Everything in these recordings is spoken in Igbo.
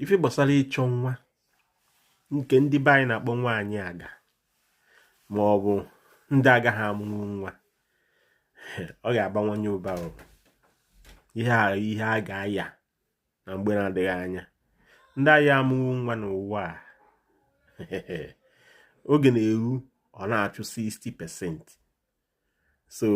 ife gbasara ịchọ nwa nke ndị be anyị na-akpọ nwaanyị aga ma ọ bụ ndị agaghị amụnwu nwa ọ ga-abawanye ụba ihe a ihe a ga-aya na mgbe na-adịghị anya ndị agaghị amụnwu nwa n'ụwa a ọ ga na-eru ọ na-achụ 60% so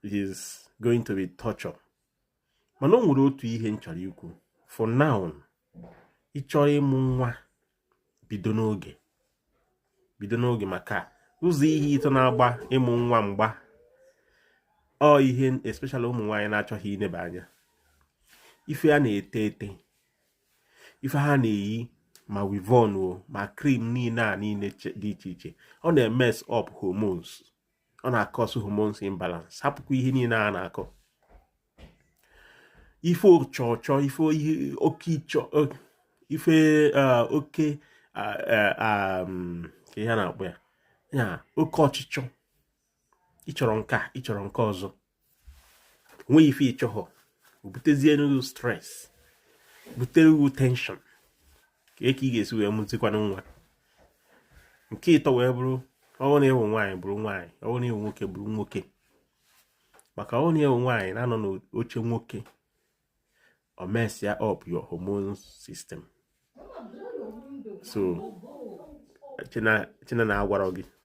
it is going to be torture mana o nwere otu ihe m chọrọ ikwu for now ị chọọ ịmụ nwa bido n'oge bido n'oge maka ụzọ ihe ịtọ na-agba ịmụ nwa mgba ọ ihe especially ụmụ nwaanyị na-achọghị ineba anya ife a na-ete ete ife ha na-eyi ma weavon o ma cream niile a niile dị iche iche ọ na-emess up hormones ọ na-acause hormones imbalance hapụkwa ihe niile a na-akọ ife ọchọchọ ife oke ịchọ ife oke ihe a na-akpọ ya ya oke ọchịchọ ị chọrọ nke a ị chọrọ nke ọzọ nwee ife ị chọghị o butezie nnukwu stress bute nnukwu tension kee ka ị ga-esi wee mụzikwanụ nwa nke ịtọ wee bụrụ ọ wụ na ị wụ nwaanyị bụrụ nwaanyị ọ wụ na ị wụ nwoke bụrụ nwoke maka ọ wụ na ị wụ nwaanyị na-anọ n'oche nwoke ọ messịa up your hormone system so cheta na a gwara gị